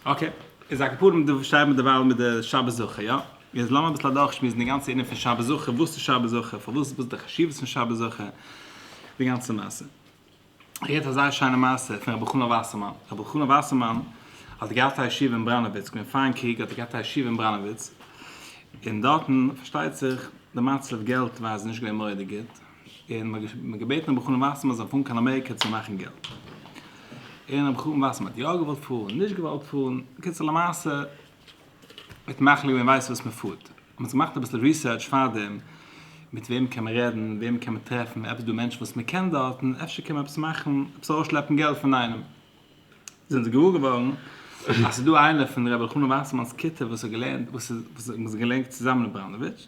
אקעי, איז א כפרה מיר שטיימער דערווייל מיט די שבת זכור, יא? איז לאמיר אביסל אדורכשמועסן די גאנצע ענין פון שבת זכור, וואס איז שבת זכור, פארוואס וואס איז די חשיבות פון שבת זכור, די גאנצע מעשה. כ'הערט א זייער שיינע מעשה פון רבי חנא וואסערמאן, רבי חנא וואסערמאן האט געהאט א ישיבה אין בראנאוויץ, געווען פארן קריג האט ער געהאט א ישיבה אין בראנאוויץ, און דארטן פארשטייט זיך די מצב געלט ווייז איז נישט געווען מורא'דיג גוט, און מען האט געבעטן רבי חנן וואסערמאן זאל פארן קיין אמעריקע צו מאכן געלט, און רבי חנן וואסערמאן האט יא געוואלט פארן, נישט געוואלט פארן, בקיצור למעשה מיט מחליט ווען מען ווייסט וואס מען פארט, מען האט געמאכט אביסל ריסערטש פארדעם, מיט וועם קען מען רעדן, וועם קען מען טרעפן, עפעס דא מענטשן וואס מען קען דארטן, אפשר קען מען עפעס מאכן, עפעס ארויסשלעפן געלט פון איינעם, זענען זיי געוואר געווארן אז ס'איז דא איינער פון רבי חנן וואסערמאן'ס כיתה וואס האט געלערנט, וואס איז געלערנט צוזאמען אין בראנאוויטש,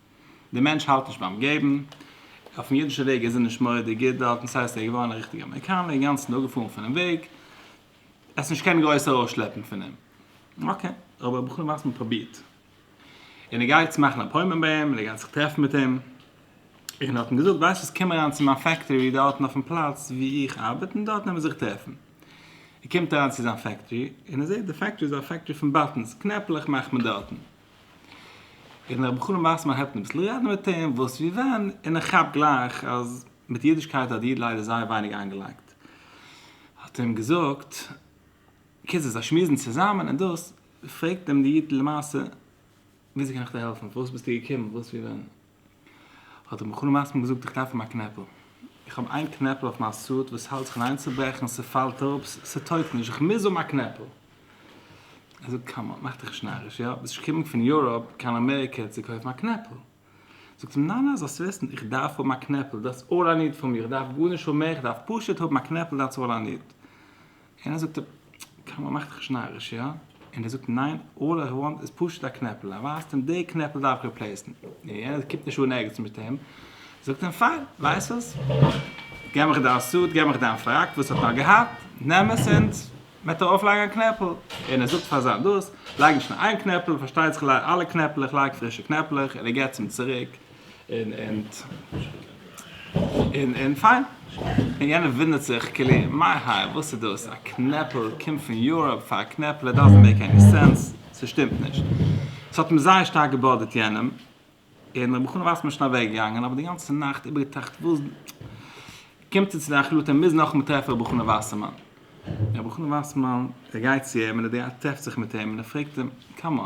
דער מענטש האלט נישט ביים געבן, אויפן אידישע וועג איז ער נישט מורא'דיג גוט דארטן, סאו איז ער געווארן א ריכטיגע אמעריקאנער, אינגאנצן אפגעפאלן פונעם וועג, עס איז נישט קיין גרויסע ארויסשלעפן פון אים. אקעי, אבער בכל מאס מען פרובירט, און ער גייט צו מאכן אפוינטמענט ביי אים, און ער גייט זיך טרעפן מיט אים, און האט אים געזאגט, ווייסט וואס, קום אריין צו מיין פעקטארי דארטן אויפן פלאץ וואו איך ארבעט, און דארט נעמען זיך טרעפן. ער קומט אריין צו זיין פעקטארי, און ער זעט די פעקטארי איז א פעקטארי פון באטענס, קנעפלעך מאכט מען דארטן. און איך בחור א מעשה מהייבט אן אביסל רעדן מיט אים וואס ווי ווען און ער כאפט גלייך אז מיט אידישקייט האט די איד ליידער זייער ווייניג איינגעלייגט האט ער אים געזאגט קיצור זיי שמועסן צוזאמען און דאס פרעגט אים די איד למעשה וויאזוי קען איך דיר העלפן פארוואס ביסטו געקומען וואס ווי ווען. האט ער מחול מסכים געזאגט איך דארף אים א קנעפל איך האב איין קנעפל אויף מיין סוט וואס האלט זיך פון איינצוברעכן ס'פאלט אפ ס'טויגט נישט איך מוז האבן א קנעפל ער זאגט קאם אן מאך דיך נישט נאריש יא ביסט נישט געקומען פון יוראפ קיין אמעריקע צו קויפן א קנעפל זאגט אים ניין ניין זאלסט וויסן איך דארף האבן א קנעפל דעטס אלל איי ניד פון מיר איך דארף גארנישט האבן מער איך דארף פשוט האבן א קנעפל דעטס אלל איי ניד און ער זאגט קאמאן מאך דיך נישט נאריש יא? און ער זאגט ניין אלל איך וואנט איז פשוט א קנעפל ער ווייזט אים די קנעפל דארף איך ריפלעיסן און יענער קומט נישט אן ערגעץ מיט אים זאגט אים פיין ווייסט וואס געב מיך דיין סוט געב מיך דיין פראק וואס האט נאר געהאט נעם עס און וועט ער אויפלייגן א קנעפל און ער זאגט פאר זיין דאס לייג נישט נאר איין קנעפל פארשטייט זיך לייג אלע קנעפלעך לייג פרישע קנעפלעך און ער געבט אים צוריק און פיין, און יענער וואונדערט זיך כאילו מיין האר וואס איז דאס א קנעפל קומט פון יוראפ פאר א קנעפל איט דאזענט מעיק עני סענס ס'שטימט נישט ס'האט אים זייער שטארק געבאדערט יענעם און רבי חנא ווייסמאן איז שוין אוועק געגאנגען אבער די גאנצע נאכט איבער געטראכט וואס קומט ער צו די החלטה ער מוז נאכאמאל טרעפן רבי חנא ווייסמאן און רבי חנא ווייסמאן ער גייט צו אים און ער טרעפט זיך מיט אים און ער פרעגט אים קאם אן.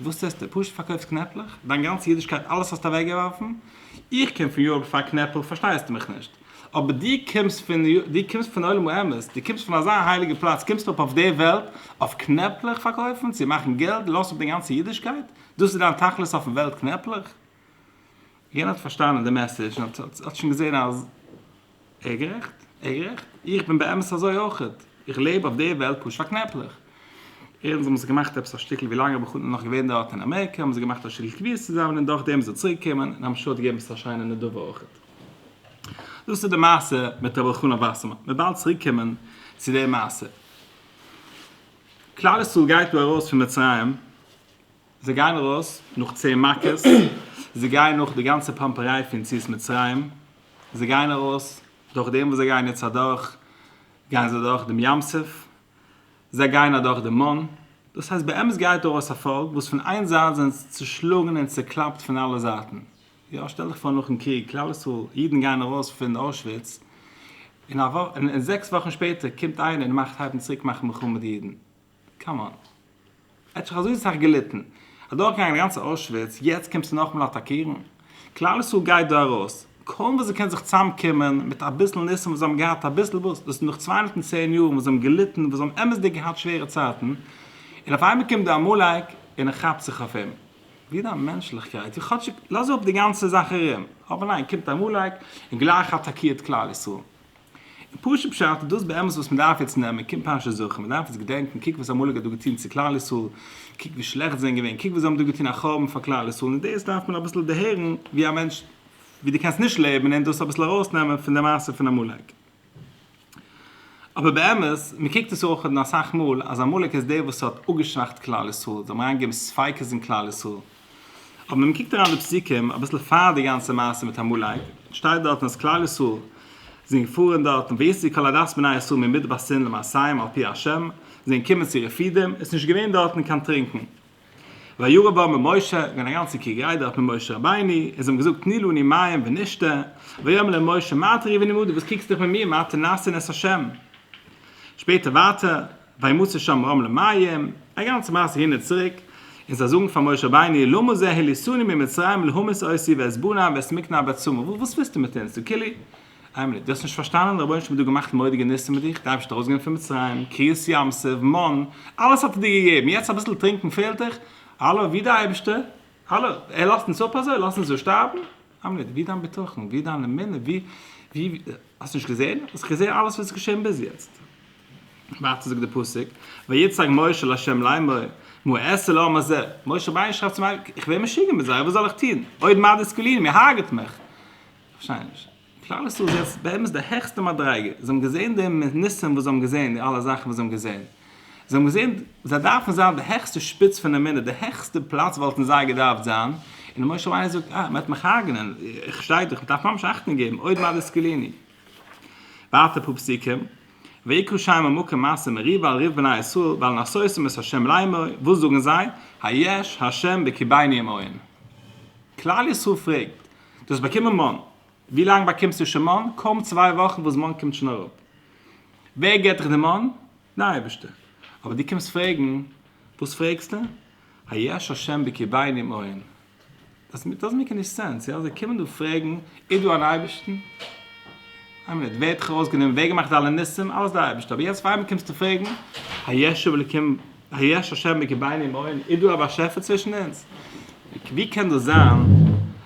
וואס טוסטו? פשוט פארקויפסט קנעפלעך? דיין גאנצע אידישקייט אלעס האסטו אוועקגעווארפן? איך קום פון יארק פאר קנעפל פארשטייסטו מיך נישט? אבער דו קומסט פון דו קומסט פון עולם האמת, דו קומסט פון אזא הייליגע פלאץ קומסטו אראפ אויף די וועלט אויף קנעפלעך פארקויפן צו מאכן געלט לאזט אפ דיין גאנצע אידישקייט? דאס איז דיין תכלית אויפן וועלט קנעפלעך? יענער האט פארשטאנען די מעסעדזש און האט שוין געזען אז. ער גערעכט, ער גערעכט. איך בין באמת אזוי אויכעט. איך לעב אויף דער וועלט פשוט א קנעפלעך. ערנסט האבן זיי געמאכט עפעס א שטיקל ווי לאנג רבי חנינא איז נאך געווען דארט אין אמעריקע האבן זיי געמאכט א שטיקל קביעות צוזאמען און דורכדעם איז ער צוריקגעקומען און המשהו האט געגעבן עפעס א שיינע נדבה אויכעט. דאס איז די מעשה מיט רבי אלחנן וואסערמאן. מיר באלד צוריקקומען צו דער מעשה. כלל ישראל גייט דא ארויס פון מצרים זיי גייען ארויס נאך צען מכות, זיי גייען נאך די גאנצע פאמפעריי פון יציאת מצרים, זיי גייען ארויס דורך דעם וואס זיי גייען יעצט אדורך, גייען זיי אדורך דעם ים סוף, זיי גייען אדורך די מן, דאס הייסט באמת גייט ארויס א פאלק וואס פון איין זייט זענען זיי צושלאגן און צוקלאפט פון אלע זייטן, יא שטעל דיך פאר נאכן קריג, כלל ישראל, אידן גייען ארויס פון אוישוויץ, און זעקס וואכן שפעטער קומט איינער און מאכט הייבן צוריק מאכן מלחמה מיט די אידן. קאם אן. ער האט שוין אזוי סאך געליטן. אדורכגעגאנגען די גאנצע אוישוויץ, יעצט קומסטו נאכאמאל אטאקירן? כלל ישראל גייט דא ארויס, קוים וואס זיי קענען זיך צוזאמקומען, מיט אביסל ניסים וואס זיי האבן געהאט, אביסל וואס? דאס איז נאך צוויי הונדערט און צען יאר וואס זיי האבן געליטן, וואס זיי האבן אמת'דיג געהאט שווערע צייטן, און אויף איינמאל קומט דא עמלק און ער כאפט זיך אויף אים. ווי איז דיין מענטשליכקייט? ווי כאטשיג לאז אפ די גאנצע זאך ארום. אבער ניין, קומט עמלק און גלייך אטאקירט כלל ישראל. און פשוט פשט איז דאס באמת וואס מען דארף יעצט נעמען, קומט פרשת זכור, מען דארף יעצט געדענקען, קוק וואס עמלק האט דא געטון צו כלל ישראל, קוק ווי שלעכט זיי זענען געווען, קוק וואס זיי האבן דא געטון א חורבן פאר כלל ישראל, און דאס דארף מען אביסל דערהערן ווי א מענטש ווי דו קענסט נישט לעבן און דאס אביסל ארויסנעמען פון די מעשה פון עמלק. אבער באמת, מען קוקט עס אויך אן אסאך מאל אז עמלק איז דער וואס האט אפגעשוואכט כלל ישראל, זיי האבן אריינגעגעבן ספיקות אין כלל ישראל, אבער ווען מען קוקט אריין אין די פסוקים אביסל פאר די גאנצע מעשה מיט עמלק, שטייט דארטן אז כלל ישראל זענען געפארן דארטן ויצאו כל עדת בני ישראל ממדבר סין למסעיהם על פי ה', זיי זענען געקומען צו רפידים, עס איז נישט געווען דארטן קיין טרינקען. וירא בא ממשה, איז געווען א גאנצע קריגעריי דארט מיט משה רבינו, און זיי האבן געזאגט תני לנו מים ונשתה, ויאמר להם משה מה אתה ריב עמדי, וואס קוקסטו דיך מיט מיר, מה אתה נעשה נס ה'. שפעטער ווייטער. וימות שם רם למים, א גאנצע מעשה הין און צוריק, און זיי זאגן פאר משה רבינו, למה זה העליסוני ממצרים להמות אותי ואת בניי ואת מקנא ואת צמא, וואס ווילסטו מיט אונז, דו כולי עלמא, דו האסט נישט פארשטאנען, רבונו של עולם האט דא געמאכט מורא'דיגע ניסים מיט דיך, דארפסט ארויסגיין פון מצרים, קריעת ים סוף, מן, אלעס האט ער דיר געגעבן, יעצט אביסל טרינקען פעלט דיך, האלא, ווי דער אייבערשטער, האלא, ער לאזט אונז אפ אזוי, לאזט אונז דא שטארבן, עלמא, ווי דיין בטחון, ווי דיין אמונה, ווי, ווי, האסט נישט געזען, האסט געזען אלעס וואס איז געשען ביז יעצט. ווייטער זאגט דער פסוק, ויצעק משה אל ה' לאמור, מה אעשה לעם הזה, משה רבינו שרייבט צום אייבערשטן, איך ווער משוגע מיט זיי, וואס זאל איך טון, עוד מעט דסקלוני, מען הרג'ט מיך. כ'פארשטיי נישט. כלל ישראל איז יעצט באמת די העכסטע מדריגה, זיי האבן געזען די ניסים וואס זיי האבן געזען, די אלע זאכן וואס זיי האבן געזען, זיי האבן געזען, זיי דארפן זיין די העכסטע שפיץ פון אמונה, די העכסטע פלאץ וואלטן זיי געדארפט זיין, און משה רבינו זאגט, אה, מען וועט מיך הרג'נען, איך שטיי דאך, מען דארף ממש אכטונג געבן, עוד מעט דסקלוני. ווייטער פסוקים, ויקרא שמה מקום מעשה מריבה על ריב בני ישראל ועל נסותם את ה' לאמור, וואס זאגן זיי? היש ה' בקרבינו ימאן. כלל ישראל פרעגט, דו האסט באקומען מן, ווי לאנג באקומסטו שוין מן? קוים צוויי וואכן וואס מן קומט שוין אראפ. ווער געט דיך די מן? ניין אייבערשטער, אבער דו קומסט פרעגן, וואס פרעגסטו? היש השם בקרבי נמען? דאזענט דאזענט מעיק עני סענס, יא? זיי קומען דא פרעגן, איז דא אן אייבערשטן? איין מינוט, ווער האט דיך ארויסגענומען? ווער האט געמאכט אלע ניסים? אלעס דער אייבערשטער, אבער יעצט פאר מיר קומסטו פרעגן, היש אלקים, היש השם בקרבי נמען? איז דא א באשעפער צווישן אונז? ווי קען דאס זיין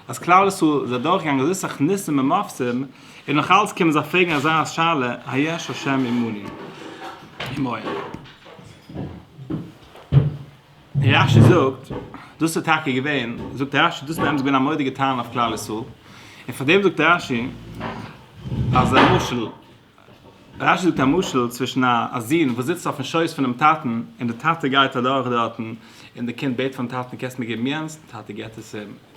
אז כלל ישראל איז אדורכגעגאנגען אזוי סאך ניסים ומופתים, און נאך אלץ קען מען זיך פרעגן אזא שאלה היש השם עמני עמהם? און רש י זאגט, דאס איז טאקע געווען, זאגט רש י, דאס איז באמת געווען א מורא'דיגע טענה אויף כלל ישראל, און פאר דעם זאגט רש י, אז א משל, רש י זאגט א משל צווישן א א זון וואס זיצט אויפן שויס פונעם טאטן, און די טאטע גייט אדורך דארטן, און די קינד בעט פארן טאטן, קענסט מיר געבן יענס? די טאטע געט עס אים.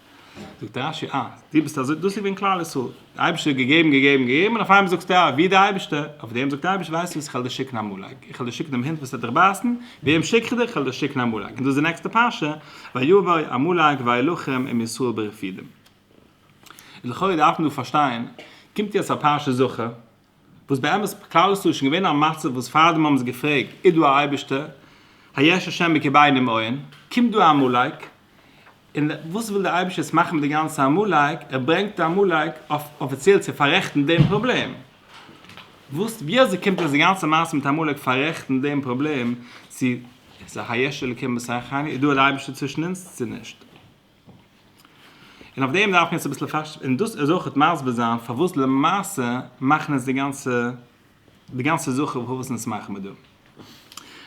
זאגט רש י, אה, דו ביסט אזוי, דאס איז געווען כלל ישראל, דער אייבערשטער האט געגעבן געגעבן געגעבן און אויף איינמאל זאגסטו אה, ווי דער אייבערשטער, אויף דעם זאגט דער אייבערשטער, ווייסטו וואס איך העל דיר שיקן א מלאך, איך העל דיר שיקן דעם הונט וואס העט דיך בייסן, וועם שיק איך דיר, איך העל דיר שיקן א מלאך, און דאס איז די נעקסטע פרשה, ויבוא עמלק ויילחם עם ישראל ברפידים. לכאורה דארף מען דא פארשטיין, קומט יעצט א פרשת זכור, וואס באמת כלל ישראל איז שוין געווען אין א מצב וואס פאר דעם האבן זיי געפרעגט איז דא א אייבערשטער? היש השם בקרבינו מאין? קומט דא א עמלק, און וואס וויל דער אייבערשטער יעצט מאכן מיט די גאנצע עמלק? ער ברענגט א עמלק אויף אפיציעל צו פאררעכטן דעם פראבלעם. וואס ווי אזוי קומט אויס די גאנצע מעשה מיט עמלק פאררעכטן דעם פראבלעם צו היש אלקים בסכנה? איז דא א אייבערשטער צווישן אונז צו נישט? און אויף דעם דארף מען יעצט אביסל פארש און דאס איז אויכעט מסביר זיין פארוואס למעשה מאכן אונז די גאנצע די גאנצע זכר פארוואס וואס אונז מאכן מיר דא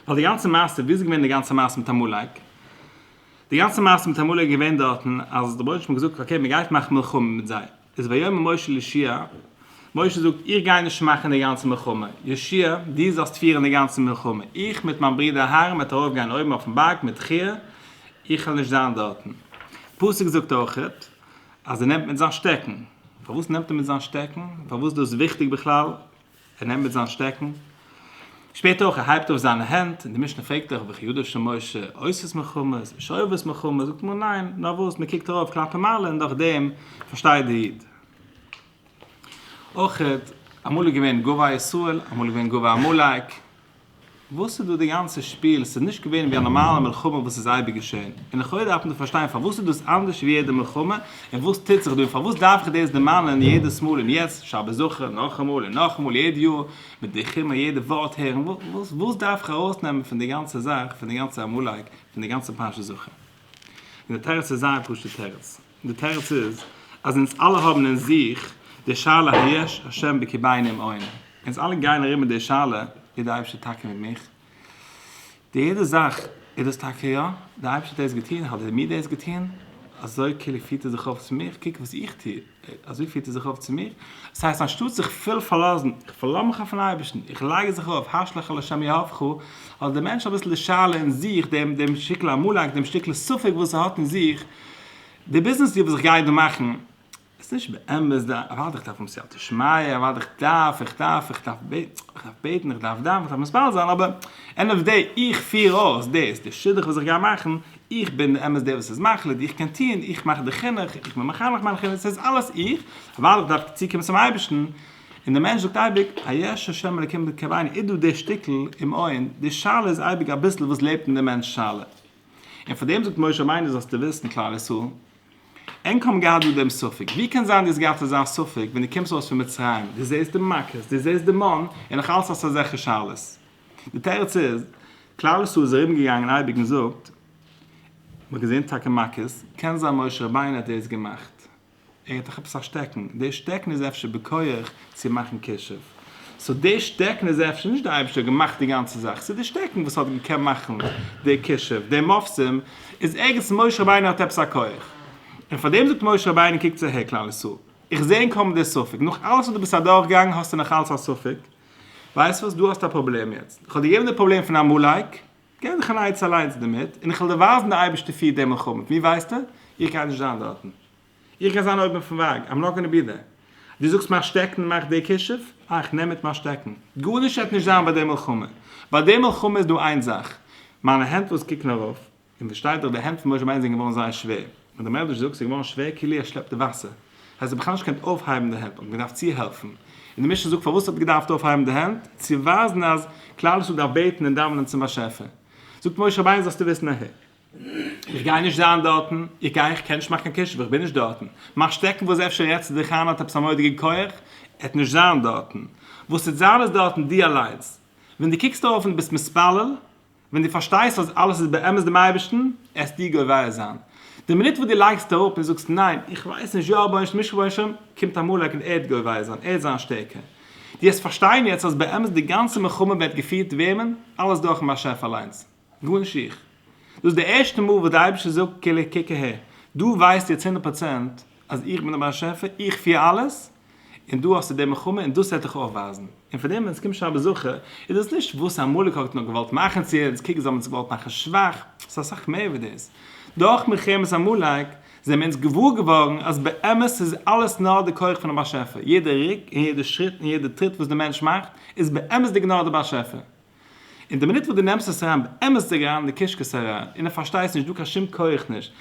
ווייל די גאנצע מעשה ווי איז געווען די גאנצע מעשה מיט עמלק די גאנצע מעשה מיט עמלק איז געווען דארטן אז דער בויערשטן האט געזאגט אקעי מען גייט מאכן מלחמה מיט זיי. איז ויאמר משה לישעי', משה זאגט, איך גיי נישט מאכן די גאנצע מלחמה, ישעי', דו זאלסט פירן די גאנצע מלחמה, איך מיט מיין ברודער אהרן וועט ארויף גיין אויבן אויפן בארג מיט חי', איך וועל נישט זיין דארטן. פסוק זאגט אויכעט אז ער נעמט מיט זיין שטעקן, פארוואס נעמט ער מיט זיין שטעקן? פארוואס דאס וויכטיג בכלל? ער נעמט מיט זיין שטעקן. שפעטער אויך, ער הייבט אויף זיינע הענט, און די משנה פרעגט דאך, וכי ידו של משה עושת מלחמות, ושואבת מלחמות, זאגט מרן ניין, נארוואס, מען קוקט ארויף כלפי מעלה און דורך דעם פארשטייט דער איד. אויך, אמאל איז געווען גובה ישראל, אמאל איז געווען גובה עמלק. וואס איז דא די גאנצע שפיל? ס'איז נישט געווען ווי א נארמאלע מלחמה וואס איז אייביג געשען. און לכאורה דארף מען דא פארשטיין פארוואס איז דאס אנדערש ווי יעדע מלחמה, און וואס טוט זיך דא, און פארוואס דארף איך דאס דערמאנען יעדעס מאל, און יעצט, שבת זכור, נאכאמאל און נאכאמאל יעדע יאר, מיט די חימער יעדע ווארט הערן, וואס דארף איך ארויסנעמען פון די גאנצע זאך, פון די גאנצע עמלק, פון די גאנצע פרשת זכור? און די תירוץ איז זייער פשוט תירוץ. די תירוץ איז אז אונז אלע האבן אין זיך די שאלה היש השם בקרבינו און אונז אלע גייען ארום מיט די שאלה איז די אייבערשטער טאקע מיט מיך? די יעדע זאך איז דאס טאקע יא? די אייבערשטער האט דאס געטון? האט ער מיר דאס געטון? אזוי כאילו פירט ער זיך אויף צו מיר? קוק וואס איך טו, אזוי פירט ער זיך אויף צו מיר? דאס הייסט אנשטאט זיך פול פארלאזן, איך פארלאז מיך אויפן אייבערשטן, איך לייג זיך אויף הש לך לשם יהבך, האט דער מענטש אביסל די שאלה אין זיך, דעם שטיקל עמלק, דעם שטיקל ספק וואס ער האט אין זיך, די ביזנעס וואס איך גיי דא מאכן איז נישט באמת די ערווארט איך דארף האבן סייעתא שמיא ערווארט איך דארף איך דארף איך דארף בעטן איך דארף דאווענען איך דארף מספיד זיין אבער ענד אוו דעי איך פיר אויס דאס די שידוך וואס איך גיי מאכן איך בין באמת דער וואס איז מחליט איך קען טוהן איך מאך די חינוך איך בין מחנך מיין חינוך סאיז אלעס איך ווייל איך דארף צוקומען צום אייבערשטן און די מענטש זאגט אייביג היש השם אלוקים בקרבנו איז דא די שטיקל אומאין די שאלה איז אייביג אביסל וואס לעבט אין די מענטש שאלה. און פאר דעם זאגט משה רבינו זאלסטו וויסן כלל ישראל ענק האבן געהאט דא דעם ספק ווי קען זיין דו האסט געהאט אזא ספק ווען דו קומסט ארויס פון מצרים דו זעסט די מכות דו זעסט די מן און נאך אלעס האסטו אזעלכע שאלות די תירוץ איז כלל ישראל איז ארום געגאנגען אייביג און זאגט מ'האט געזען טאקע מכות קען זיין משה רבינו האט דאס געמאכט ער האט דאך עפעס א שטעקן, די שטעקן איז אפשר בכח צו מאכן כישוף, סאו די שטעקן איז אפשר נישט די אייבערשטער האט געמאכט די גאנצע זאך, ס'איז די שטעקן וואס האט געקענט מאכן די כישוף, די מופתים איז ערגעץ משה רבינו האט עפעס א כח, און פאר דעם זאגט משה רבינו קוקטס אהער כלל ישראל, איך זע אין קאמענט די ספק, נאך אלעס וואס דו ביסט אדורך געגאנגען האסטו נאך אלץ א ספק, ווייסט וואס דו האסט א פראבלעם יעצט, איך האב דיר געגעבן די פראבלעם פון עמלק, גיי דיך אן עצה אליינס דערמיט, און איך וועל דיר ווייזן די אייבערשטער פירט דעם מלחמה מיט מיר ווייסטע, איך גיי נישט זיין דארטן, איך גיי זיין אויבן פון וואג, איים נאט גאנע בי דער, דו זאגסט מיין שטעקן מאכט די כישוף, איי איך נעם מיט מיין שטעקן, גארנישט וועט נישט זיין ביי די מלחמה, ביי די מלחמה איז דא איין זאך, מיינע הענט וואס קוקן ארויף, און פארשטייט זיך די הענט פון משה רבינו זענען געווארן זייער שווער. מיט די מעדרש זאגסט איז געווארן שווער כאילו ער שלעפט די וואסער, הייסט ער האט בכלל נישט געקענט אויפהייבן די הענט, מ'האט אים געדארפט צוהעלפן, און די משנה זאגט פארוואס ער האט געדארפט אויפהייבן די הענט, צו ווייזן אז כלל ישראל דארף בעטן און דאווענען צום באשעפער, זאגט משה רבינו זאלסטו וויסן ע ה איך גיי נישט זיין דארטן, איך גיי איך קען נישט מאכן קיין כישוף איך בין נישט דארטן, מיין שטעקן וואס אפשר רעדסטו דיך איין האט עפעס א מורא'דיגע כח, ער וועט נישט זיין דארטן, וואס ס'וועט זיין איז דארטן דו אליינס, ווען דו קוקסט ארויף און דו ביסט מתפלל, ווען דו פארשטייסט אז אלעס איז באמת דעם אייבערשטן, עסטו גובר זיין. די מינוט וואס דו לייגסט אראפ און זאגסט ניין, איך ווייס נישט, יא רבונו של עולם, קומט עמלק און ער וועט גובר זיין, ער וועט זיין שטערקער. דו וועסט פארשטיין יעצט אז באמת די גאנצע מלחמה ווערט געפירט וועמען? אלעס דורכ'ן באשעפער אליינס, גארנישט איך. דאס איז די ערשטע מאל וואס דער אייבערשטער זאגט, קילע, קוק אהער, דו ווייסט יעצט הונדערט פראצענט, אז איך בין דער באשעפער, איך פיר אלעס, און דו האסט צו דעם מלחמה, און דאס וועט דיך אויך ווייזן. און פאר דעם ווען עס קומט שבת זכור, איז דאס נישט וואס עמלק האט נאר געוואלט מאכן צו אונז, קוק זיי האבן אונז געוואלט מאכן שוואך, עס איז אסאך מער ווי דאס. דורך מלחמת עמלק, זעמיר אונז געוואר געווארן אז באמת איז אלעס נאר די כח פונעם באשעפער, יעדע רוק און יעדע שריט און יעדע טריט וואס דער מענטש מאכט, איז באמת'דיג נאר דער באשעפער. און די מינוט וואס דו נעמסט עס אריין באמת דיג אריין אין די קישקעס אריין און ער פארשטייסט נישט דא קיין שום כח נישט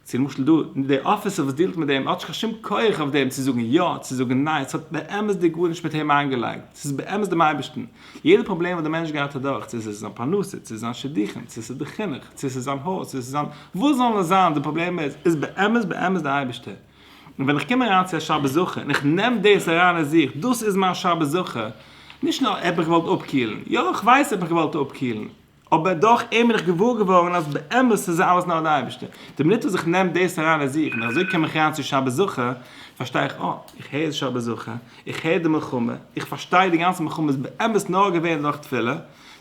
צו למשל דא די אפיסער וואס דיעלט מיט דעם ער האט נישט קיין שום כח אויף דעם צו זאגן יא צו זאגן ניין עס האט באמת דיג גארנישט מיט אים איינגעלייגט עס איז באמת דעם אייבערשטן יעדע פראבלעם וואס די מענטש גייט אדורך צו עס איז זיין פרנסה צו זיין שידוכים צו עס איז די חינוך צו עס איז זיין הויז צו עס איז זיין וואס זאל עס זיין די פראבלעם איז איז באמת באמת די אייבערשטער. און ווען איך קום אריין צו א שבת זכור און איך נעם דאס אריין אין זיך, דאס איז מיין שבת זכור, נישט נאר האב איך געוואלט אפקילן, יא איך ווייס האב איך געוואלט אפקילן, אבער דורך אים בין איך געוואר געווארן אז באמת איז אלעס נאר די אייבערשטער. די מינוט וואס איך נעם דאס אריין אין זיך און אזוי קום איך אריין צו שבת זכור, פארשטיי איך אה, איך הער איז שבת זכור, איך הער די מלחמה, איך פארשטיי די גאנצע מלחמה איז באמת נאר געווען דורך תפילה,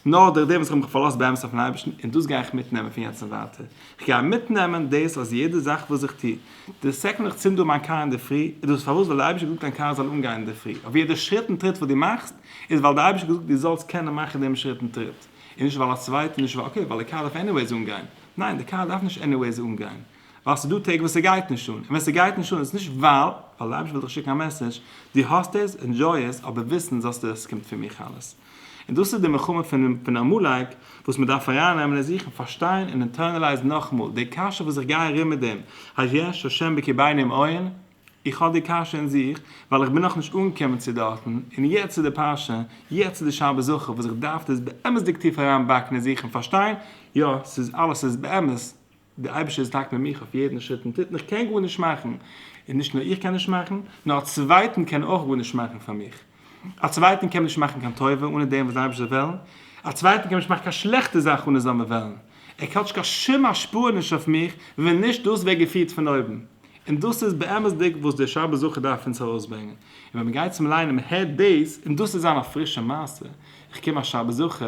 נאר דורך דעם וואס איך האב מיך פארלאזט באמת אויפן אייבערשטן, און דאס גיי איך מיטנעמען פון יעצט און ווייטער. איך גיי מיטנעמען דאס אז יעדע זאך וואס איך טו, די סעקונד איך צינד אן מיין קאר אינדערפרי איז דאס פארוואס ווייל די אייבישטער האט געזאגט דיין קאר זאל אנגיין אינדערפרי אויף יעדע שריט און טריט וואס דו מאכסט איז ווייל די אייבישטער האט געזאגט דו זאלסט קענען מאכן דעם שריט און טריט און נישט ווייל א צווייטער נישט ווייל אקעי ווייל די קאר דארף עניוועיס אנגיין ניין די קאר דארף נישט עניוועיס אנגיין ווייל ס'דא טעג וואס ס'גייט נישט אן און ווען ס'גייט נישט אן איז נישט ווייל ווייל די אייבישטער וויל דיך שיקן א מעסעדזש דו האסט עס ענדזשוי עס אבער וויסן זאלסטו אז ס'קומט פון מיך אלעס. און דאס איז די מלחמה פון עמלק וואס מען דארף ארייננעמען אין זיך און פארשטיין און אינטערנעלייזן נאכאמאל די קשיא וואס איך גיי ארום מיט דעם היש השם בקרביים עוין, איך האב די קשיא אין זיך ווייל איך בין נאכנישט אנגעקומען צו דארטן, און יעצט איז די פרשה, יעצט איז די שבת זכור וואס איך דארף דאס באמת'דיג טיף אריינבאקן אין זיך און פארשטיין, יא, ס'איז אלעס איז באמת. דער אייבערשטער איז דאקט מיט מיך אויף יעדן שריט און טריט און איך קען גארנישט מאכן, און נישט נאר איך קען נישט מאכן, נאר א צווייטן קען אויך גארנישט מאכן פאר מיך, א צווייטן קען מען נישט מאכן קיין טובה אנע דעם וואס דער אייבערשטער זאל וועלן, א צווייטן קען מען נישט מאכן קיין שלעכטע זאך אנע זיין וועלן, ער האט קיין שום השפעה נישט אויף מיך ווען נישט דאס ווערט געפירט פון אויבן, און דאס איז באמת'דיג וואס דער שבת זכור דארף אונז ארויסברענגען, און ווען מען גייט צום ליינען מען הערט דאס, און דאס איז זיין א פרישע מעשה, איך קום א שבת זכור,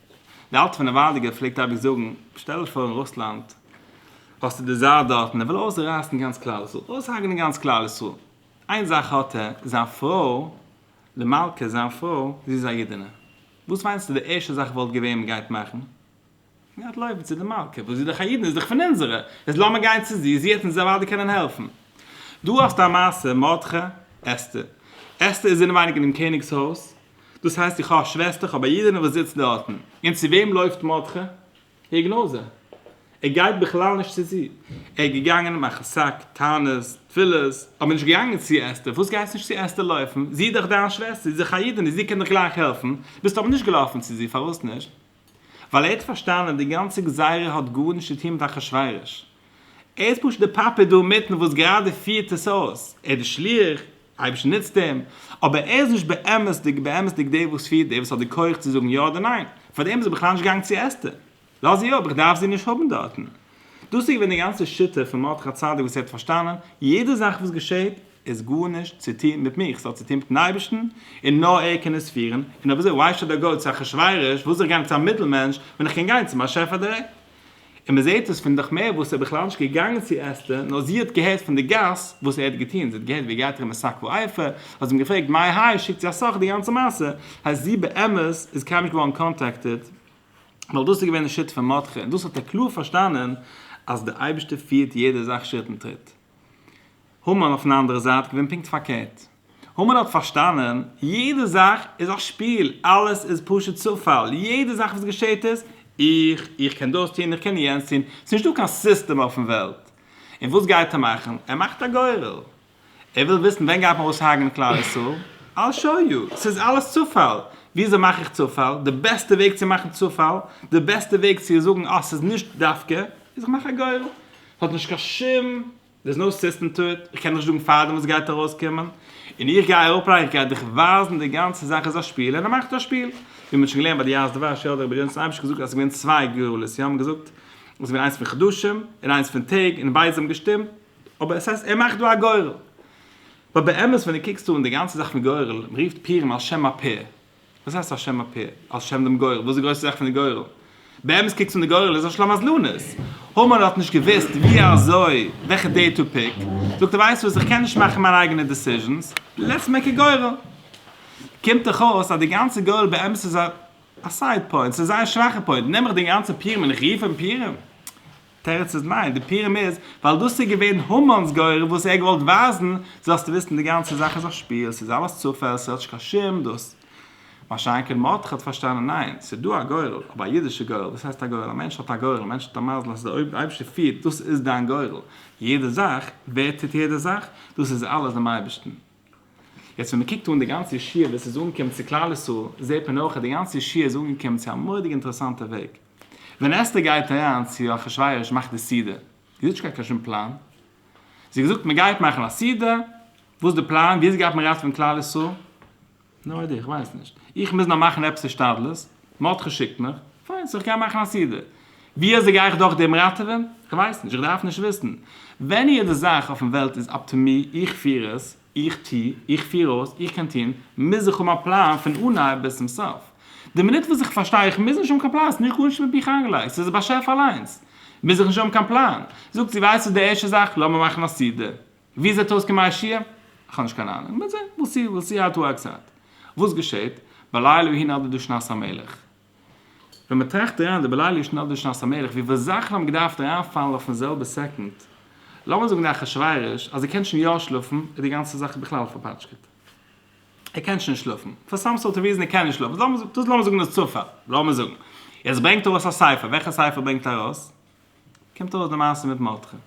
דער אלטער פון נעוואדיגער פלעגט אייביג זאגן, שטעל דיך פאר אין רוסלאנד האסטו די צאר דארט און ער וויל אויסרייסן גאנץ כלל ישראל, אויסהארגענען גאנץ כלל ישראל, איין זאך האט ער, זיין פרוי, די מלכה זיין פרוי, זי איז א אידענע, וואס מיינסטו די ערשטע זאך וואלט געווען מען גייט מאכן? מען גייט לויפן צו די מלכה, וואס זי איז דאך א אידענע, זי איז דאך פון אונזערע, איז לאמיר גיין צו זי, זי העט אונז אוודאי קענען העלפן. דא האסטו א מעשה, מרדכי, אסתר. אסתר איז אינעווייניג אינעם קעניג'ס הויז, דאס הייסט איך האב א שוועסטער, איך האב א אידענע וואס זיצט דארטן. און צו וועם לויפט מרדכי? איר גנאזע. ער גייט בכלל נישט צו זי. ער איז געגאנגען מאכן סק, טענות, תפילות, אבער נישט געגאנגען צו אסתר. פארוואס גייסטו נישט צו אסתר לויפן? זי איז דאך דיין שוועסטער, זי איז דאך א אידענע, זי קען דיך גלייך העלפן. ביסט אבער נישט געלאפן צו זי, פארוואס נישט? ווייל ער האט פארשטאנען אז די גאנצע גזירה האט גארנישט צו טון מיט אחשורוש, ער איז פשוט די פאפעט דא אינמיטן וואס גראדע פירט עס אויס, ער איז די שליח, אייבערשטן נוצט אים, אבער ער איז נישט באמת'דיג באמת'דיג דער וואס פירט דער וואס האט די כח צו זאגן יא אדער ניין, פארדעם איז ער בכלל נישט געגאנגען צו אסתר, לאז זי אפ, איך דארף זי נישט האבן דארטן. דאס איז געווען די גאנצע שיטה פון מרדכי צדק וואס ער האט פארשטאנען, יעדע זאך וואס געשעט איז גארנישט צו טון מיט מיך, עס האט צו טון מיטן אייבערשטן, און נאר ער קען עס פירן, און אויב אזוי why should I go צו אחשורוש, וואס זיך גיין צו א מיטל מענטש ווען איך קען גיין צום באשעפער דירעקט? און מען זעט עס פון דכמר וואס איז בכלל נישט געגאנגען צו אסתר, נאר זי האט געהערט פון די גאס וואס ער האט געטון, זי האט געהערט ווי ער גייט ארום אין שק ואפי', האט זי אים געפרעגט מאי האי, שיקט זי א סך די גאנצע מעשה, הייסט זי באמת איז קיינמאל נישט געווארן קאנטעקטעד. ווייל דאס איז געווען די שיטה פון מרדכי און דאס האט ער קלאר פארשטאנען אז דער אייבערשטער פירט יעדע זאך שריט און טריט. המן אויפן אנדערע זייט געווען פונקט פארקערט. המן האט פארשטאנען יעדע זאך איז א שפיל, אלעס איז פשוט צופאל, יעדע זאך וואס געשעט איז איך, איך קען דאס טון, איך קען יענץ טון, ס'איז נישטא קיין סיסטעם אויפן וועלט. און וואס גייט ער מאכן? ער מאכט א גורל. ער וויל וויסן ווען גייט מען אויסהארגענען אין כלל ישראל, I'll show you, ס'איז אלעס צופאל, וויאזוי מאך איך צופאל, די בעסטע וועג צו מאכן צופאל, די בעסטע וועג צו זאגן אה ס'איז נישט דווקא, איז איך מאך א גורל, ס'האט נישט קיין שום, there's no system to it, איך קען נישט זאגן פארדעם וואס גייט ארויסקומען, און איך גיי אראפלייגן, איך גיי דיך ווייזן די גאנצע זאך איז א שפיל, און ער מאכט א שפיל, ווי מ'האט שוין געלערנט ביי די יערות דבש, יא די רבי גרעניצער אייביג געזאגט אז ס'איז געווען צוויי גורלות, יא מ'האט געזאגט אז ס'איז געווען איינס פון חדשים, און איינס פון טעג, און ביידע זיי האבן געשטימט, אבער עס הייסט ער מאכט דא א גורל. באט באמת ווען דו קוקסט אן די גאנצע זאך פון גורל, מען רופט פירן על שם הפער. וואס הייסט על שם הפער? על שם דעם גורל. וואס איז די גרויסע זאך פון די גורל? באמת קוקסט אן די גורל איז על שלום הזלונית. המן האט נישט געוואוסט ווי אזוי וועלכע דעיט טו פיק. זאגט ער ווייסט וואס איך קען נישט מאכן מיינע אייגענע דעסיזשענס, לעטס מעיק א גורל. קומט דאך אויס אז די גאנצע גורל באמת איז א סייד פוינט, ס'איז א זייער שוואכע פוינט. נעם איך דעם גאנצע פירם און איך רוף אים פירם? תירוץ איז ניין, די פירעם איז ווייל דאס איז געווען המן'ס גורל וואס ער האט געוואלט ווייזן, זאלסטו וויסן די גאנצע זאך איז א שפיל, ס'איז אלעס צופעל, ס'האט נישט קיין שום דאס. מה שאין כן מרדכי האט פארשטאנען ניין, ס'איז דא א גורל, אבער א אידישע גורל, וואס הייסט א גורל, א מענטש האט א גורל, א מענטש האט א מזל אז די אויבערשטער פירט, דאס איז דיין גורל, יעדע זאך, ווער טוט יעדע זאך, דאס איז אלעס דעם אייבערשטן. יעצט ווען מ'קוקט אן די גאנצע ישיבה ווי עס איז אנגעקומען צו כלל ישראל, זעט מען אויך אז די גאנצע ישיבה איז אנגעקומען צו א מורא'דיג אינטערעסאנטע וועג. ווען אסתר גייט אריין צו אחשורוש מאכט די סעודה, זי האט נישט געהאט קיין שום פלאן, זי האט געזאגט מ'גייט מאכן א סעודה, וואס איז די פלאן, ווי אזוי גייט מען ראטעווען כלל ישראל? נו איידער, איך ווייס נישט. איך מוז נאר מאכן עפעס השתדלות. מרדכי שיקט מיך. פיין, סאו איך גיי מאכן א סידור. ווי אזוי גיי איך דורך דעם ראטעווען? איך ווייס נישט. איך דארף נישט וויסן. ווען יעדע זאך אויפן וועלט איז אפ טו מי, איך פיר עס, איך טו, איך פיר אויס, איך קען טון, מוז איך האבן א פלאן פון אנהייב ביז צום סוף. די מינוט וואס איך פארשטיי איך מוז נישט האבן קיין פלאן, ס'איז נישט גארנישט מיט מיך איינגעלייגט, ס'איז די באשעפער אליינס, מוז איך נישט האבן קיין פלאן. זאגט זי, ווייסטו די ערשטע זאך, לאמיר מאכן א סידור. ווי זעט אויס קען מיישי ע? איך האב נישט קיין אהנונג, מ'וועט זען, וויל סי, וויל סי האו איט ווארקס אוט. וואס געשעט? בלילה ווי נאר דו שנת המלך. ווען מ'טראכט אריין, די בלילה ווי נאר דו שנת המלך, ווי וואס זאכן האבן געדארפט אריינפאלן אויפן זעלבע סעקונד. לאמיר זאגן די אחשוורוש, אז ער קען שוין יא שלאפן, איז די גאנצע זאך בכלל פארפאטשקעט. ער קען שוין שלאפן. פאר סאם סארט אוו ריזען ער קען נישט שלאפן. דאס לאמיר זאגן איז צופאל. לאמיר זאגן. יעצט ברענגט ארויס א ספר. וועלכע ספר ברענגט ארויס? קומט ארויס די מעשה מיט מרדכי.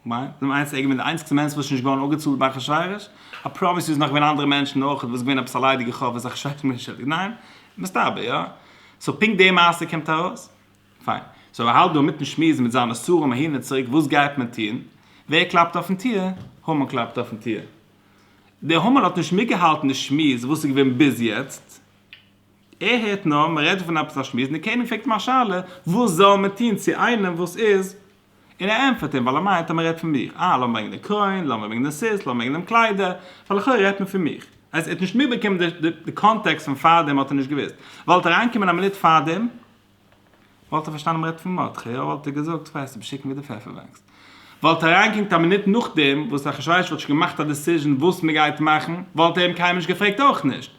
כ'מיין, דו מיינסט איך בין די איינציגסטע מענטש וואס איז נישט געווארן אפגעצאלט ביי אחשורוש? א פראמיס איז נאך געווען אנדערע מענטשן אויך, וואס איז געווען עפעס א ליידיגע חוב וואס אחשורוש האט מיר נישט ערלעדיגט? ניין? מסתבר יא. סאו פונקט די מעשה קומט ארויס? פיין. סאו איך האלט דא אינמיטן שמועסן מיט זיינע שרים אהין און צוריק וואס גייט מען טון? ווער קלאפט אויפן טיר? המן קלאפט אויפן טיר. דער המן האט נישט מיטגעהאלטן די שמועס וואס איז געווען ביז יעצט. ער הערט נאר מ'רעדט פון עפעס א שמועס און דער קעניג פרעגט אים א שאלה וואס זאל מען טון צו איינעם וואס איז און ער ענטפערט אים ווייל ער מיינט אז מען רעדט פון מיך, אה לאמיר ברענגען די קרוין, לאמיר ברענגען די סוס, לאמיר ברענגען דעם קליידער, ווייל לכאורה רעדט מען פון מיך. אז ער האט נישט מיטבאקומען די קאנטעקסט פון פארדעם האט ער נישט געוואוסט. וואלט ער אריינגעקומען א מינוט פארדעם וואלט ער פארשטאנען מען רעדט פון מרדכי, אויב וואלט ער געזאגט ווייסט דו ביסט שיקן ווי די פעפער וואקסט וואלט ער אריינגעקומט א מינוט נאכדעם וואס אחשורוש וואלט שוין געמאכט א דעסיזשען וואס מען גייט מאכן וואלט ער אים קיינמאל נישט געפרעגט אויך נישט.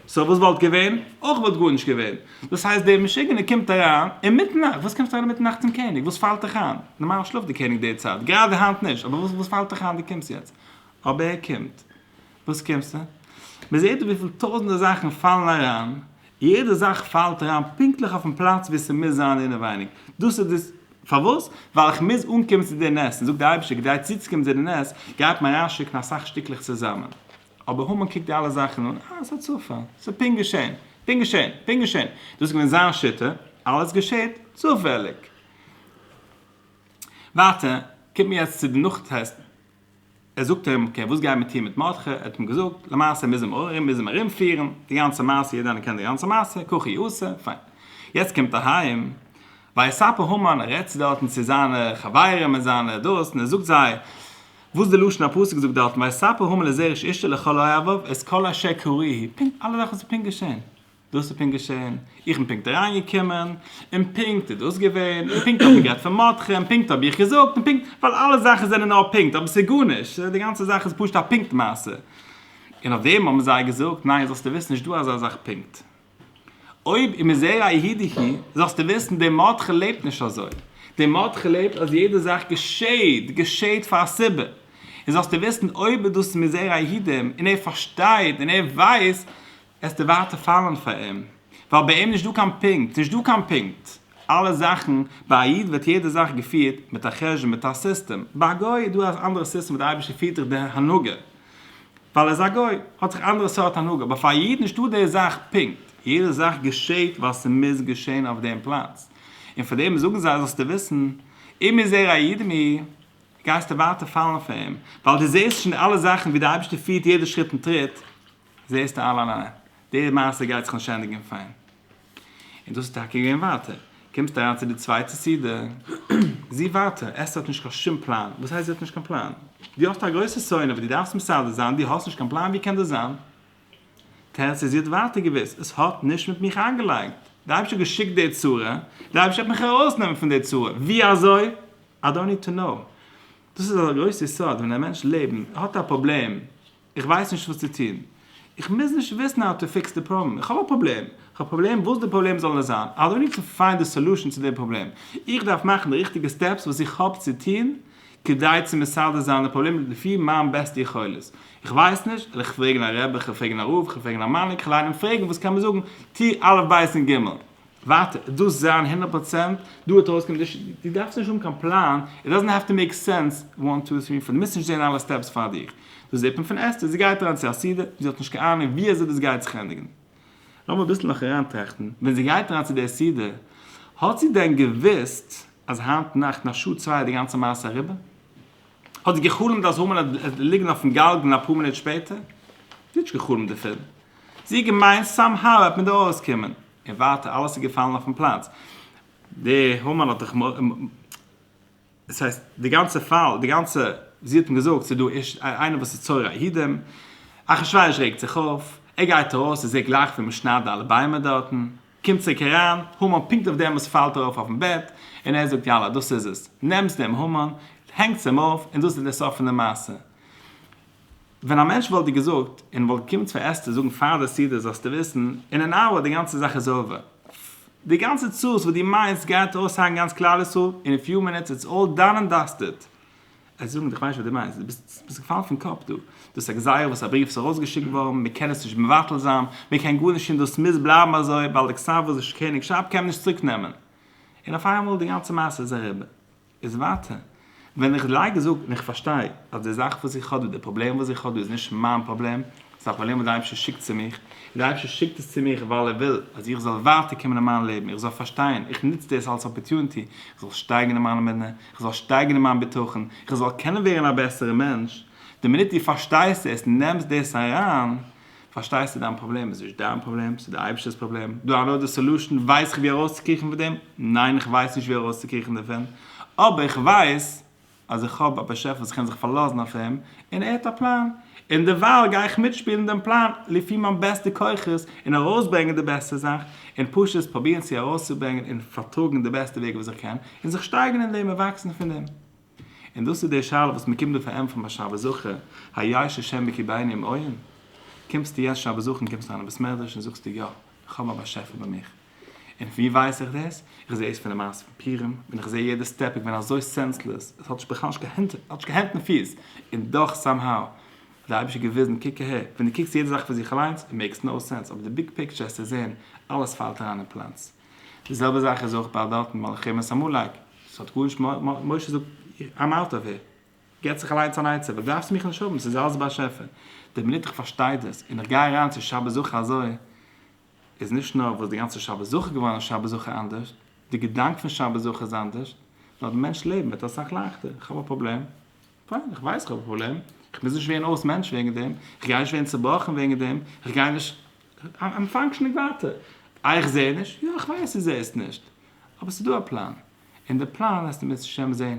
סאו וואס וואלט געווען? אויך וואלט גארנישט געווען. דאס הייסט דער משוגענער קומט אריין אינמיטן נאכט, וואס קומסטו אריין אינמיטן נאכט צום קעניג? וואס פאלט דיך איין? נארמאל שלאפט דער קעניג די צייט, גראדע היינט נישט, אבער וואס פאלט דיך איין דו קומסט יעצט? אבער ער קומט. וואס קומסטו? מען זעט דא וויפיל טויזנטער זאכן פאלן אריין, יעדע זאך פאלט אריין פונקטליך אויפן פלאץ וואו ס'מוז זיין אינעווייניג, דאס איז די. פארוואס? ווייל איך מוז אנקומען צו די נס, און זאגט דער אייבערשטער כדי צוצוקומען צו די נס, גייט מען אריינשיקן אסאך שטיקלעך צוזאמען. אבער המן קוקט די אלע זאכן אן, אה, ס'האט צופאל, ס'איז פונקט געשען, פונקט געשען, פונקט געשען, דאס איז געווען זיין שיטה, אלעס געשעט צופעליג. ווייטער, קומט מען יעצט צו די נאך טעסטן, ער זאגט אים, אקעי, וואס גייט מען טון מיט מרדכי, ער האט אים געזאגט, למעשה מוז מען ארום, מוז אים ארום פירן, די גאנצע מעשה, יעדער איינער קען די גאנצע מעשה, ככי עשה, פיין. יעצט קומט אהיים. ביי א ספה המן, ער רעדט צו דארטן צו זיינע חברים און זיינע דאס, און ער זאגט זיי וואס די לשון הפסוק זאגט דארטן, ביי ספה המן לזר איש אשתו לכל אוהביו את כל אשר קרי היא, פונקט אלע זאכן וואס איז פונקט געשען, דאס איז פונקט געשען, איך בין פונקט אריין געקומען, און פונקט איז דאס געווען, און פונקט האט מען גערעדט פון מרדכי, און פונקט האב איך געזאגט, און פונקט, ווייל אלע זאכן זענען נאר פונקט, אבער עס איז גארנישט, די גאנצע זאך איז פשוט א פונקט מעשה, און אויף דעם האבן זיי געזאגט, ניין זאלסטו וויסן נישט דא אזא זאך פונקט. אויב איז מען זערא איהי דיהי, זאלסטו וויסן, דער מרדכי ח לעבט נישט אזוי. דער מרדכי ח לעבט אז יעדע זאך געשעהט, געשעהט פאר א סיבה. און זאלסטו וויסן, אויב איז דאס מזרע היהודים, און ער פארשטייט, און ער ווייסט, עסטו ווייטער פאלען פאר אים. ווייל ביי אים נישט דא קיין פונקט. ס'נישט דא קיין פונקט. אלע זאכן, ביי א איד ווערט יעדע זאך געפירט מיט א חשבון, מיט א סיסטעם. ביי א גוי איז דא א אנדערע סיסטעם וואס דער אייבערשטער פירט דורך די הנהגה. ווייל ער איז א גוי האט זיך אנדערע סארט הנהגה אבער פאר א איד נישטא די זאך פונקט יעדע זאך געשעהט ווייל ס'מוז געשעהן אויף דעם פלאץ און פאר דעם זאגן זיי זאלסטו וויסן אם איז ער א איד מי גייסטו ווייטער פאלן פאר אים ווייל די זעהסט שוין אלע זאכן ווי די אייבישטער פירט יעדע שריט און טריט זעהסטו אלע די מעשה גייט זיך נישט ענדיגן פיין. און דאס איז טאקע געווען ווייטער. קומסט אריין צו די צווייטע סעודה, זי ווייטער, אסתר האט נישט קיין שום פלאן. וואס הייסט זי האט נישט קיין פלאן? דו האסט א גרויסע סעודה וואס דו דארפסט מסדר זיין, דו האסט נישט קיין פלאן? ווי קען דאס זיין? תירוץ איז זי האט ווייטער געוואוסט, עס האט נישט מיט מיך איינגעלייגט. דער אייבערשטער האט געשיקט די צרה, דער אייבערשטער וועט מיך ארויסנעמען פון די צרה. ווי אזוי? איי דאנט ניד טו קנאו. דאס איז א גרויסע יסוד ווען א מענטש לעבן האט א פראבלעם, איך ווייס נישט וואס צו טון. איך מוז נישט וויסן האו טו פיקס די פראבלעם. איך האב א פראבלעם. איך האב א פראבלעם וואס די פראבלעם זאל עס זיין. איי דאנט ניד טו פיינד די סאלושען צו די פראבלעם. איך דארף מאכן די ריכטיגע סטעפס וואס איך האב צו טון כדי צו מסדר זיין די פראבלעם לפי מיין בעסטע יכולת. איך ווייס נישט, וועל איך פרעגן א רבי, כ'וועל פרעגן א רב, כ'וועל פרעגן א מנהיג, כ'וועל איינעם פרעגן וואס קען מיר זאגן, טו אלף בית און גימל. ווייטער איז דאס זיין הונדערט פראצענט דא וועט ארויסקומען די ש די דארפסט נישט האבן קיין פלאן איט דאזענט האוו טו מעיק סענס וואן טו טרי פאר די מוזט נישט זען אלע סטעפס פאר דיך דאס איז די פוינט פון אסתר זי גייט אריין צו א סדר זי האט נישט קיין אהנונג ווי אזוי דאס גייט זיך ענדיגן לאמיר אביסל נאך אריינטראכטן ווען זי גייט אריין צו די סדר האט זי דען געוויסט אז היינט נאכט אין א שעה צוויי איז די גאנצע מעשה אריבער? האט זי געחלומט אז המן עט ליגן אויפן גלגל אפאר מינוט שפעטער? זי האט נישט געחלומט דערפון זי האט געמיינט סאם האו עט מען דא ארויסקומען. און ווייטער אלעס איז געפאלן אויפן פלאץ, די המן האט דאך דאס הייסט די גאנצע פאל די גאנצע זי האט אים געזאגט ס'איז דא איש איינער וואס איז צורר הידים, אחשורוש רעגט זיך אויף, ער גייט ארויס ער זעט גלייך ווי מ'שניידט די אלע ביימער דארטן, קומט צוריק אריין, המן פונקט אויף דעם וואס פאלט ארויף אויפן בעט, און ער זאגט יאללה דאס איז עס, נעמטס דעם המן, הענגטס אים אויף, און דאס איז דער סוף פון די מעשה. ווען א מענטש וואלט דיר געזאגט און וואלט געקומען צו עס צו זאגן פאר די סדר זאלסטו וויסן אין אן אאווער די גאנצע זאך איז אווער, די גאנצע צרות וואס דו מיינסט גייט ארויס היינט גאנץ כלל ישראל אין א פיו מינוטס איטס אלל דאן און דאסטעד. עס זאגן דיך ווייניש וואס דו מיינסט, דו ביסט געפאלן פון קאפ דא, דאס איז א גזירה וואס א בריוו איז ארויסגעשיקט געווארן מען קען עס נישט מבטל זיין, מען קען גארנישט טון דאס מוז בלייבן אזוי ווייל די כסאוואזשע קעניגשאפט קען מען נישט צוריק נעמען. און אויף איינמאל די גאנצע מעשה איז אריבער. איז ווייטער. ווען איך לייג און זאג און איך פארשטיי אז די זאך וואס איך האב דא, די פראבלעם וואס איך האב דא איז נישט מיין פראבלעם, ס'איז א פראבלעם וואס די אייבערשטער שיקט צו מיך, און די אייבערשטער שיקט עס צו מיך ווייל ער וויל אז איך זאל ווייטער קומען אין מיין לעבן, איך זאל פארשטיין, איך נוץ דאס אלס אפערטונעטי, איך זאל שטייגן אין מיין אמונה, איך זאל שטייגן אין מיין בטחון, איך זאל קענען ווערן א בעסערע מענטש, די מינוט דו פארשטייסט עס, נעמסט דאס אריין, פארשטייסטו? דיין פראבלעם איז נישט דיין פראבלעם, ס'איז די אייבערשטער'ס פראבלעם. דו האסט די סעלושען, ווייס איך ווי ארויסצוקריכן פון דעם? ניין איך ווייס נישט ווי ארויסצוקריכן דערפון, אבער איך ווייס אז איך האב א באשעפער וואס איך קען זיך פארלאזן אויף אים, און ער האט א פלאן, און דערווייל גיי איך מיטשפילן דעם פלאן לפי מיין בעסטע כוחות, און ארויסברענגען די בעסטע זאך, און פשוט פרובירן צו ארויסצוברענגען און פארטראגן די בעסטע וועג וואס איך קען, און זיך שטייגערן אין דעם און וואקסן פון דעם. און דאס איז די שאלה וואס מ'קומט דא פארענטפערן ביי שבת זכור, היי ששם בקי בעיני אם עיון, קומסטו יעצט שבת זכור און קומסט אריין אין בית מדרש און זאגסטו יא, איך האב א באשעפער ביי מיך. און ווי ווייס איך דאס? איך זע עס פון די מעשה פון פורים, ווען איך זע יעדע סטעפ איז געווען אזוי סענסלעס, עס האט בכלל נישט קיין הענט און פיס, און דאך סאם האו האט די אייבישטער געוויזן קוק אהער, ווען דו קוקסט יעדע זאך פאר זיך אליינס, איט מעיקס נאו סענס, אבער די ביג פיקטשער עסטו זען, אלעס פאלט אריין אין פלאץ. די זעלבע זאך איז אויך ביי וועלטן מלאכים און סאמולייק, עס האט גארנישט מיט, משה זאגט איים אוט אוו העיר, געט זיך אליינס אן עצה, וואס דארפסטו מיך נישט האבן, ס'איז אלעס באשעפער, די מינוט איך פארשטיי דאס, און איך גיי אריין צו שבת זכור אזוי, איז נישט נאר וואס די גאנצע שבת זכור געווארן איז שבת זכור אנדערש, די געדאנק פון שבת זכור איז אנדערש, נאר די מענטש'ס לעבן ווערט אסאך לייכטער, איך האב א פראבלעם. פיין, איך ווייס איך האב א פראבלעם, איך מוז נישט ווערן אויס מענטש וועגן דעם, איך גיי נישט ווערן צובראכן וועגן דעם, איך גיי נישט, איים פאנקשענינג ווייטער. איי איך זע נישט? יא, איך ווייס דו זעסט נישט, אבער ס'איז דא א פלאן, און די פלאן וועסטו בעז השם זען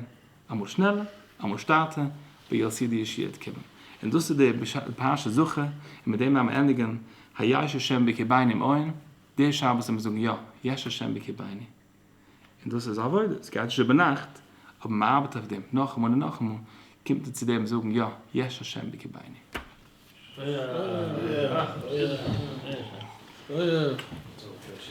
אמאל שנעלער, אמאל שטאטער, ווי יו וויל סי די ישועות קומען. און דאס איז די פרשת זכור, און מיט דעם וועל מיר ענדיגן היש השם בקרבינו און דער שבת וועל מיר זאגן יא, יש השם בקרבינו. און דאס איז עבודה, עס גייט נישט איבער נאכט, אבער מען ארבעט אויף דעם נאכאמאל און נאכאמאל, קומט מען צו דעם זאגן יא, יש השם בקרבינו.